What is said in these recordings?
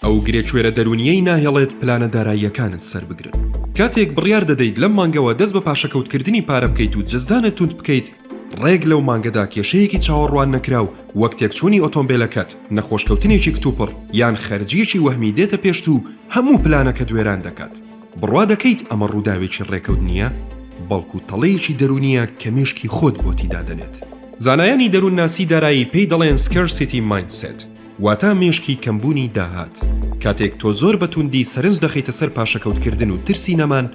ئەو گرێکوێرە دەروونییەی ناهێڵێت پلانە داراییەکانت سەربگرن. کاتێک بڕیار دەدەیت لەم مانگەوە دەست بە پاشەکەوتکردنی پارە بکەیت و جزدانت توند بکەیت، ڕێک لەو مانگەدا کێشەیەکی چاوەڕواننەکراو وەک تێکچوونی ئۆتۆمبێلەکەت، نەخۆشکەوتنێکی کتوپڕ، یان خەرجییەکی وەهمی دێتە پێشت و هەموو پلانەکەت وێران دەکات. بڕوا دەکەیت ئەمە ڕووداوێکی ڕێکەوت نییە، بەڵکو تەڵەیەکی دەروونییە کە مێشکی خۆت بۆتی دادەنێت. زانایانی دەروونناسی دارایی پێی دەڵێن Scarcity Mindset. واتا مێشکی کەمبوونی داهات. کاتێک تۆ زۆر بە توندی سەرنج دەخەیتە سەر پاشەکەوتکردن و ترسی نەمان،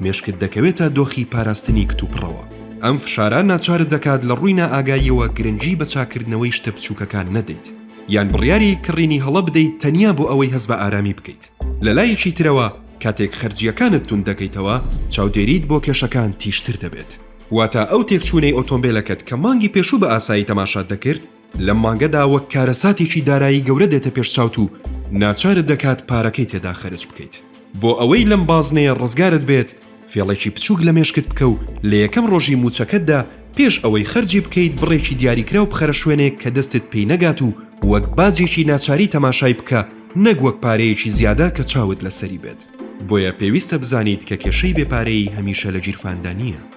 مێشکت دەکەوێتە دۆخی پاراستنی کتوپڕەوە. ئەم فشارە ناچارت دەکات لە ڕووی نائاگاییەوە گرنگی بە چاککردنەوەی شتە بچووکەکان نەدەیت، یان بڕیاری کڕینی هەڵە بدەیت تەنیا بۆ ئەوەی هەست بە ئارامی بکەیت. لە لایەکی ترەوە، کاتێک خەرجییەکانت توند دەکەیتەوە، چاودێریت بۆ کێشەکان تیژتر دەبێت. واتا ئەو تێکچوونەی ئۆتۆمبێلەکەت کە مانگی پێشوو بە ئاسایی تەماشات دەکرد، لەم مانگەدا وەک کارەساتێکی دارایی گەورە دێتە پێش چاوت و ناچارت دەکات پارەکەی تێدا خەرج بکەیت. بۆ ئەوەی لەم بازنەیە ڕزگارت بێت، فێڵێکی بچووک لە مێشکت بکە و لە یەکەم ڕۆژی مووچەکەتدا پێش ئەوەی خەرجی بکەیت بڕێکی دیاریکراو بخەرە شوێنێک کە دەستت پێی نەگات و وەک باجێکی ناچاری تەماشای بکە نەک وەک پارەیەکی زیادە کە چاوت لەسەری بێت. بۆیە پێویستە بزانیت کە کێشەی بێ پارەیی هەمیشە لە گیرفاندا نییە.